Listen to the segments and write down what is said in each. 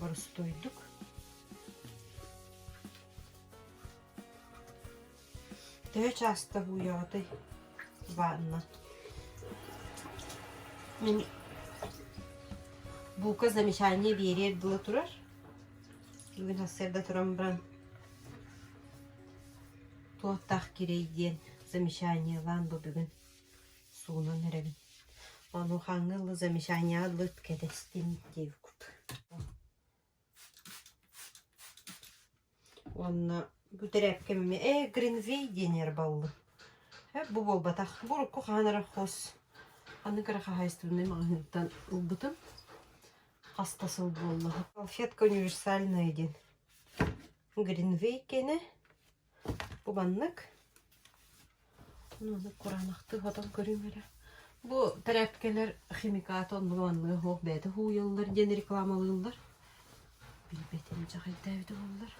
боростуойдук төһө чаастах ууйаҕытый баанна бука замечание биэриэр дуо турар бүгүн сарда туран баран туохтаах кирэй диэн замечаниелаан бу бүгүн Суунан эрэбин. Онухаҥы лы замечания лыт кэтэстим диэбикут. Уонна бу тэрээпкэм эмиэ э Гринвей диэн эрбаллы. Э бу буолбатах. Бу урукку хаанара хос. Аны кыра хаһаайыстыбынай маҕаһыынтан ылбытым. Хаста сыл буолла. Салфетка универсальная диэн. Гринвей кэнэ Бу маннык. Аны кураанахтык отон көрүҥ эрэ. Бу тряпкэлэр химикаты оннуланныа суох бэйэтэ һууйаллар диэн рекламалыыллар. Билбэтим дьаҕайдээбит буоллар.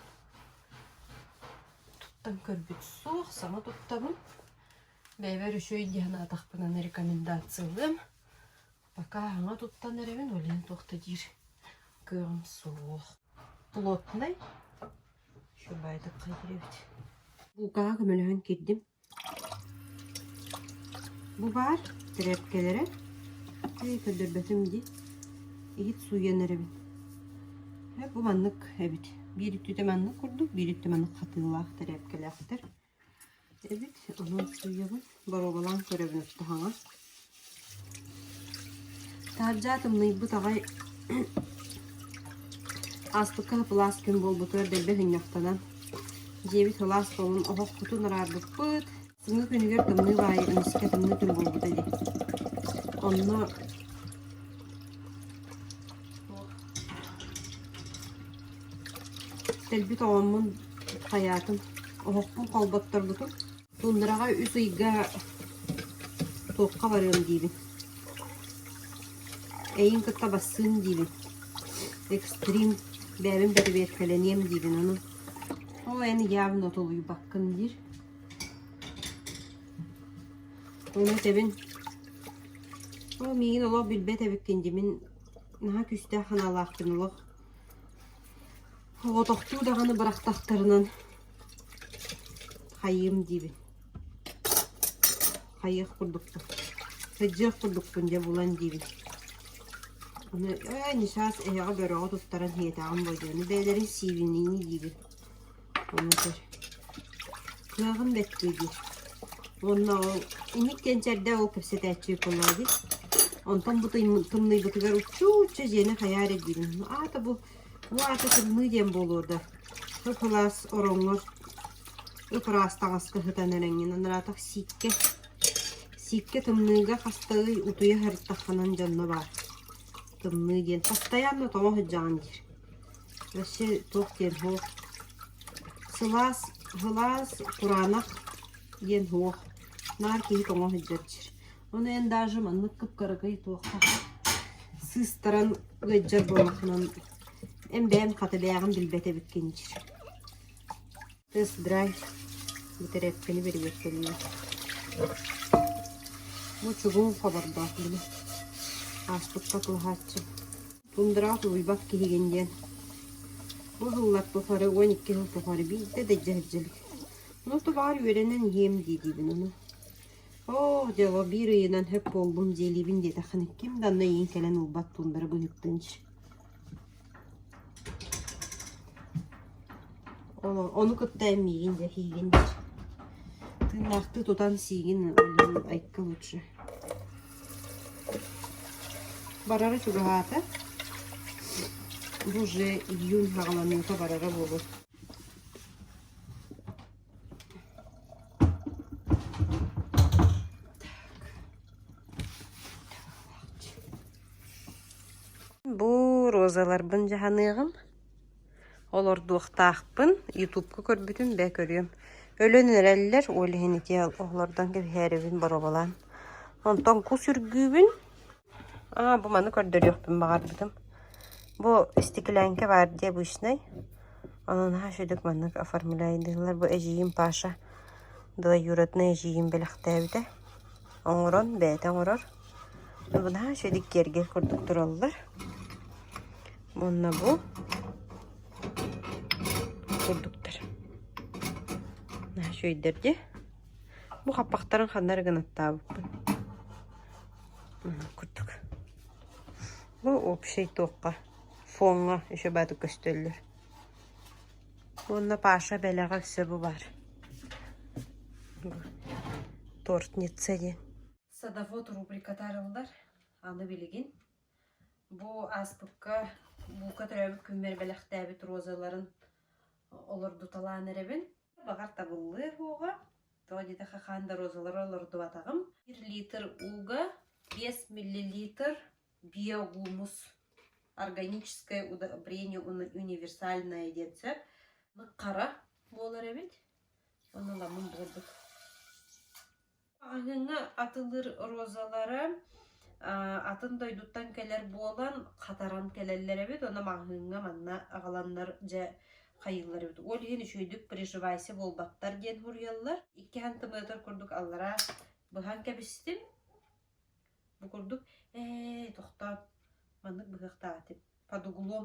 Туттан көрбүт суох, саҥа туттабын. Бэйэбэр үчүгэй дии санаатахпына рекомендациялыам. Пока саҥа туттан эрэбин, ойлуон туох да диир кыаҕым суох. Плотнай. Буукаҕа көмөлөһөн киирдим. Бу баар тирээпкэлэрэ өй көрдөрбөтүм дии иһит сууйан эрэбин. Бу маннык эбит биир өттүтэ маннык курдук биир өттө маннык хатыылаах тирээпкэлээхтэр Эбит, умулсуйабын, боруобалаан көрөбүн туһаҥа Таһырдьа тымныйбыт аҕай ааспыкка сапылаас күн буолбутугар дэлби хынньахтанан, дьиэбит сылаас тоҥун оһох кутун араарбыппыт. Бүгүҥҥү күнүгэр тымныы баайа эмискэ тымныы күн буолбута дии. Онно Тэлбит оҕоммун, хайаатым, оһохпун холботторбутум, туннураҕа үс ыйга туохха барыам диибин, эйиин кытта бассыын диибин, экстрим, бэйэбин бэрэбиэркэлэниэм диибин аны, ол эн ыйаабын отолуйбаккын диир. Ону этэбин, ол миигин олох билбэт эбиккин дии, мин наһаа күүстээх санаалаахпын олох Оҕотохтуу даҕаны бырахтахтарынан хайыам диибин. Хайыах курдукпун, сыдьыах курдукпун дьэ булан диибин. Аны ээ Ньысаас эһэҕэ бөрөҕө туттаран иһиэтэҕим буолуо диye, аны бэйэлэрин сиибинии диибин. Хомутар. Кыһаҕын бэттии диир. Уонна ол инник диэн чэрдээх ол кэпсэтээччи Николаевич. Онтон бу тымны- тымныйбытыгар уччу-уччу дьиэни хайаа эрэ диибин. Аата бу бу аата тымныы диэн буолуо да. Ып-ылаас ороҥҥор ып-ыраас таҥаска сытан эрэҥҥин анараатах сииккэ сииккэ тымныыга хастыы утуйа сырыттаххынан дьонно баар. Тымныы диэн. Бастайаан да тоҕо сылдьаҕын диир. Өссө туох диэн суох сылаас сылаас кураанах диэн суох наар киһи тоҥо сылдьар сир ону эн даже маннык кыпкарыгый туохтаах сыыстаран ыалдьар буоллаххынан эн бэйэм хатылээҕин билбэт эбиккин дьир тест-драйв бүтэрээпкэни бэрибиэт кэннэ бу чугуун хобордоох дии ааспыкка кылаһааччы Тундураах Луйбах киһигин диэн бу сыллар тухары уон икки сыл тухары биирдэ да илдьэ сылдьабыт. Ну тулаар үөрэнэн иһиэм дии диибин ону. Оо дьоло биир ыйынан сөп буоллум дьиэлиибин диэтэххинэ ким да анна иин кэлэн ылбат тундара быһыктынч. Ону, ону кытта эн миигин дьэ сиигин тыыннаахтыы тутан сиигин айкы лучше. Барара чугаһаата, бу уже июнь саҕаланыыта барара буолуо Бу розаларбын дьаһаныаҕым Олордуохтаахпын, ютубка көрбүтүм бээ көрүөм. Өлөн эрэллэр, ол иһин ити олордон кэбиһээрибин боруобалаан. Онтон кус үргүүбүн. Аа, бу маны көрдөрүөхпүн баҕарбытым. Бу стеклянка баар дии обычнай. Ону наһаа үчүгдүк маннык оформляйдыыллар. Бу эдьиийим Паша двоюроднай эдьиийим бэлэхтээбитэ. Оҥорон, бэйэтэ оҥорор. Наһаа силик киэргэл курдук тураллар. Уонна бу курдуктар. Наһаа үчүгэйдэр дии. Бу хаппахтарын ханна эрэ гынаттаабыппын. курдук. Бу общий туохха, фоҥҥа еще баатык көстөллөр. Уонна Паша бэлэҕэ өссө бу баар. Тортница диэн. Садовод рубрикатаарыллар. Аны билигин бу ааспыкка буука төрөөбүт күммэр бэлэхтээбит розаларын олордуталаан эрэбин. Баҕар табыллыа уоҕа, тоҕо диэтэххэ хаан да розалары олордубатаҕым. Бір литр уга, бес миллилитр биогумус. Органическое удобрение универсальное диэцэ. Хара буолар эбит. Ону ламын буолбут. Аһыҥы атылыр розалары атын дойдуттан кэлэр буолан хатаран кэлэллэр эбит. Онно маҥаһыыҥҥа манна аҕаланнар дьэ хайыыллар эбит. Ол иһин үчүгэйдик переживайся буолбаттар диэн суруйаллар. Иккиһэн тымныытар курдук аллараа быһан кэбистим. Бу курдук ээ тохтоот маннык быһыахтаах этим. Под углом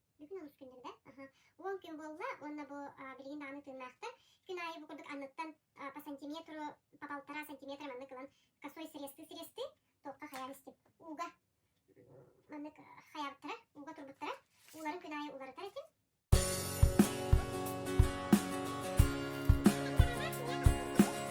Бүтүн өрүскүннэрдэ уол күн буолла уонна бу билигин даҕаны тыыннаахтар күн аайы бу курдук анныттан по сантиметру по полтора сантиметр маннык ылан косой сырезты сырезты туохха хайаан истим ууга маннык хайаабыттара ууга турбуттара ууларын күн аайы уларытар этим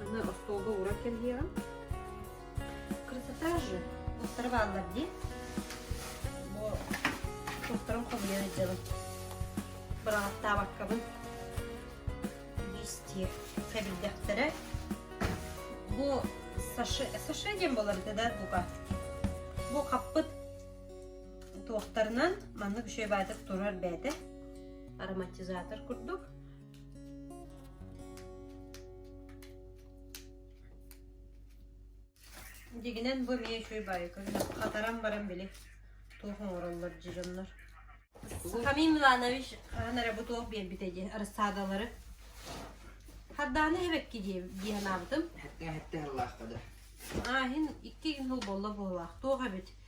Аны остуолга ууран кэргиэҕим. Красота же! Устарывааллар дии. Бу туохтарын хомуйан ыдьалым. Бырааптаабаккабын. Листье кэбирдэхтэрэ. Бу саше, саше диэн болар это да бука. Бу хаппыт туохтарынан маннык үчүгэй баайдык турар бээтэ. Ароматизатор курдук. Дигинэн бу эмиэ үчүгэй баайы көрүнэ хатаран баран били туох оҥороллор дьоннор. Сахамий Миланович хаһан эрэ бу туох биэн битэ диэн рассадалары Харданы эбекки диэн диэн аабытым. Хэтте хэтте аллаахка да. Ааһин икки күн хыл болла буолаах. Туох эбит?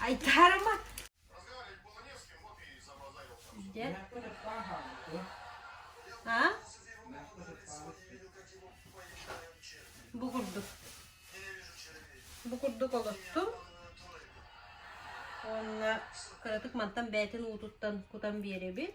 Айтарма А? Бу курдук. Бу курдук олоттум. Уонна кыратык мантан бээтин уутуттан кутан биэрэбит.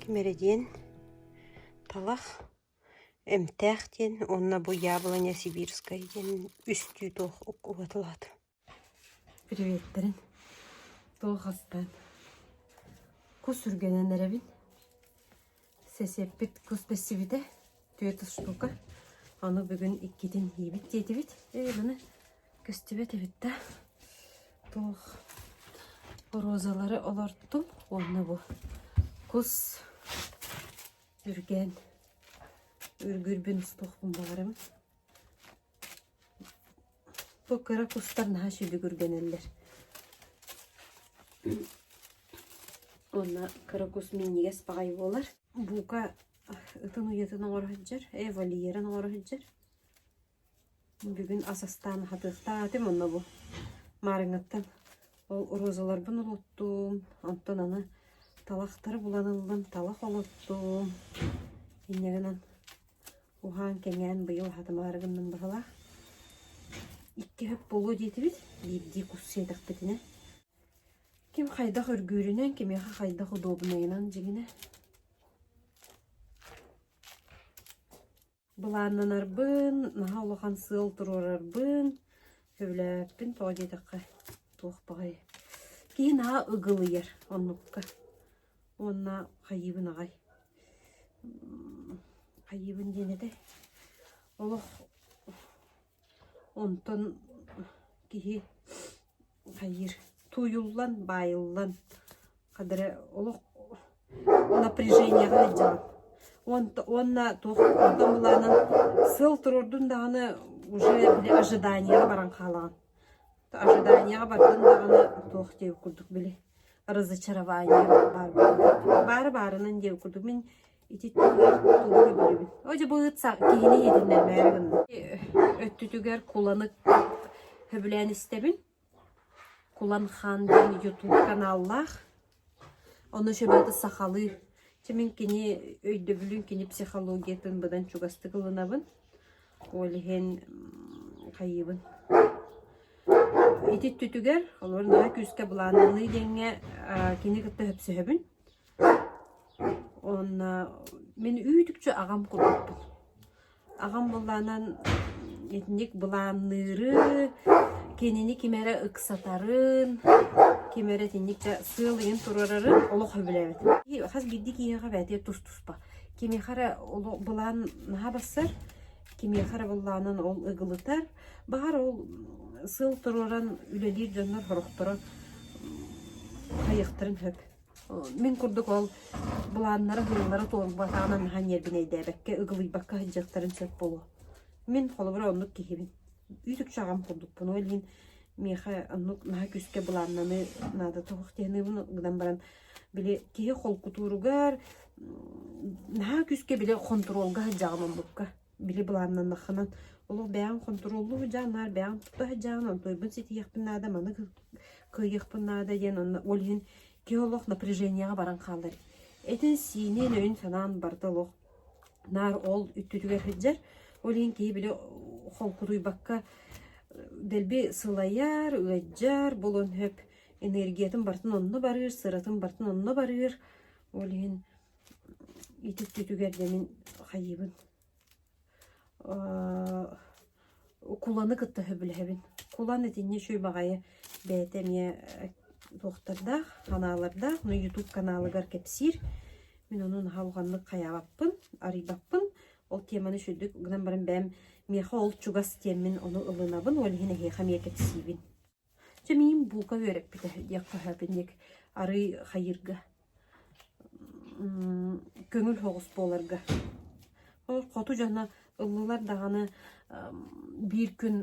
Ким эрэ диэн талах, эмтээх диэн уонна бу яблоня сибирскай диэн үстүү туох убатылаат Приветтэрин туох хастаан кус үргэнэн эрэбин сесеппит кус бэссибитэ Түөрт устуука. Аны бүгүн иккитин иибит диэтибит. Ээ, баны көстүбэт эбит да. Туох розалары олортум уонна бу кус үргээн үргүрбүн устуохпун баҕарым. Бу кыра кустар наһаа сүлүгүргэнэллэр. Уонна кыра кус минньигэс баҕай буолар. Бука ытын уйатын оҥоро сылдьар, ээ вольерын оҥоро сылдьар. Бүгүн ас астаан хатыахтаатым онно бу маарыҥаттан ол розаларбын улуттум, онтон аны талахтары булан ыллым, талах олоттум. Инньэ гынан уһаан-кэҥээн быйыл хатымаары гынным быһылаах. Икки өп буолуо диэтибит, биирдии кус сиэтэхпитинэ ким хайдах үргүүрүнэн кимиэхэ хайдах удобнайынан дьиҥинэ былааннанарбын наһаа улахан сыал туруорарбын сөбүлээппин тоҕо диэтэххэ туох баҕайы киһи наһаа ыгылыйар оннукка уонна хайыыбын аҕай хайыыбын диэн этэй олох Онтон киһи хайыыр тууйуллан, баайыллан хадары олох напряженияҕа илдьэҕин. Уонта уонна туох оттон былаанан сыл туруордун даҕаны уже били ожиданияҕа баран хаалаҕын. Ожиданияҕа бардын даҕаны туох диэки курдук били разочарование баар буолуо. Баары баарынан диэки курдук мин Ититтиилээх тугу да билэбин. Ой, дьыбыыт са киһини иһитиннэр бөйөр гынна. Өттүтүгэр куланы хөбүлээн истэбин. Кулан хаан диэн ютуб каналлаах. Ону сөбөтө сахалыы. Чимин кини өйдөбүлүн, кини психологиятын быдан чугастык ылынабын. Ол иһин хайыыбын. Ити түтүгэр, олор наһаа күүскэ былааннаныы диэҥҥэ кини кытта хөпсөһөбүн. Онно мин үүтүкчү аҕам курдукпун. Аҕам былаанан итинник былаанныыры, кинини ким эрэ ыксатарын, ким эрэ итинник да сыал ыйан туруорарын олох сөбүлээбэтим. Хас биирдии киһиэхэ эбэтэр тус-туспа. Кимиэхэ эрэ олох былаан наһаа барсар, кимиэхэ эрэ былаанын ол ыгылытар. Баҕар ол сыл туруоран үлэлиир дьоннор сорохторо хайыахтарын сөп. Мин курдук ол былааннара, һыаллара туолбатаҕынан наһаа ньиэрбинэйдээбэккэ, ыгылыйбакка сылдьыахтарын сөп буолуо. Мин холобура оннук киһибин. Үүтүкчү аҕам курдукпун. Ол иһин миэхэ оннук наһаа күүскэ былааннаныы наада туох диэн гынан баран били киһи холкутууругар наһаа күүскэ били хонтуруолга сылдьаҕын оннукка. били былааннаннаххына олох бэйэҥ хонтуруоллуу сылдьаа наар бэйэҥ тута сылдьаҕын онтуйбун ситиһиэхпин наада маны кыайыахпын наада диэн онно ол иһин киһи олох напряженияҕа баран хаалар этин сиинин өйүн санаан барыта олох наар ол үттүтүгэр сылдьар ол иһин киһи били холкутуйбакка дэлби сылайар ыалдьар буолуон сөп энергиятын барытын онно барыыр сыратын барытын онно барыыр ол иһин Ититтитүгэр дьэ мин хайыыбын куланы кытта сөбүлэһэбин. Кулан итиннэ үчүгэй баҕайы бэйэтэ эмиэ туохтардаах, ханаалардаах, но ютуб каналыгар кэпсиир. Мин ону наһаа улаханнык хайаабаппын, арыйбаппын. Ол теманы үчүгдүк гынан баран бэйэм миэхэ ол чугас тиэммин ону ылынабын, ол иһин эһиэхэ эмиэ кэпсиибин. Чэ миигин буука үөрэппитэ диэх көһөөпүн диэки арыый хайыырга көҥүл соҕус буоларга. Ол хоту дьоно ыллылар даҕаны биир күн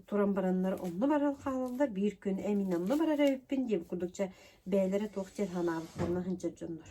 туран бараннар онно баран хаалаллар, биир күн эн мин онно барар эбиппин диэбит курдук чэ бэйэлэрэ туох диэн санаабыттарына сылдьар дьоннор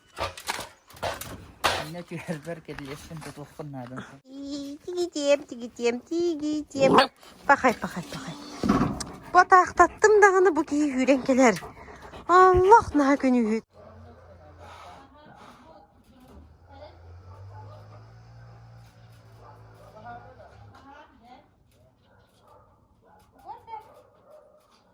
Инна түһэрбэр кирилиэстин тутуохпун наадам суох Тигитиэм, тигитиэм, тигитиэм. Пахай, пахай, пахай. Бу атаахтаттым даҕаны бу киһи үүрэн кэлэр. Аллах наһаа көнүүһүт.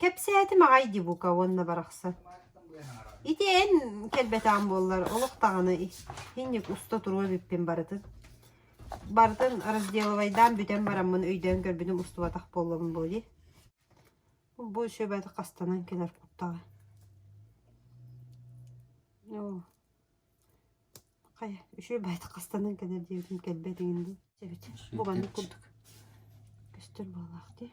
Кэпсээтим аҕай дии бука уонна барахсан. Ити эн кэлбэтэҕиҥ буоллар олох даҕаны инник уста туруо эбиппин барытын. Барытын разделывайдаан бүтэн бараммын өйдөөн көрбүтүм устубатах буоллабын буолуо дии. Бу сөбө хастанан кэлэр куттаҕа. Оо хайа үчүгэй байтах хастанан кэлэр диэбитим кэлбэт эҥин дуу. Бу маннык курдук көстөр буоллаах дии.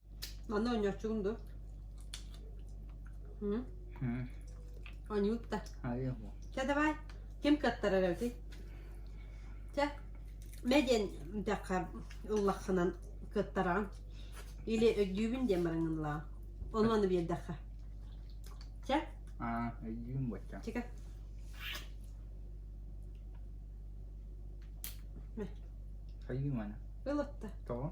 Аны оонньооччугун дуо? М? М. Оонньуут да. Айа бу. Чэ давай. Ким кыттарар эбитий? Чэ. Мэ диэн мдэххэ ыллаххынан кыттараҕын. Или өйдүүбүн диэн бараҥ ыллаҕын. Ону аны биэрдэххэ. Чэ. Аа, өйдүүм бачча. Чекэ. Айыы мана. Ылытта. Тоҕо?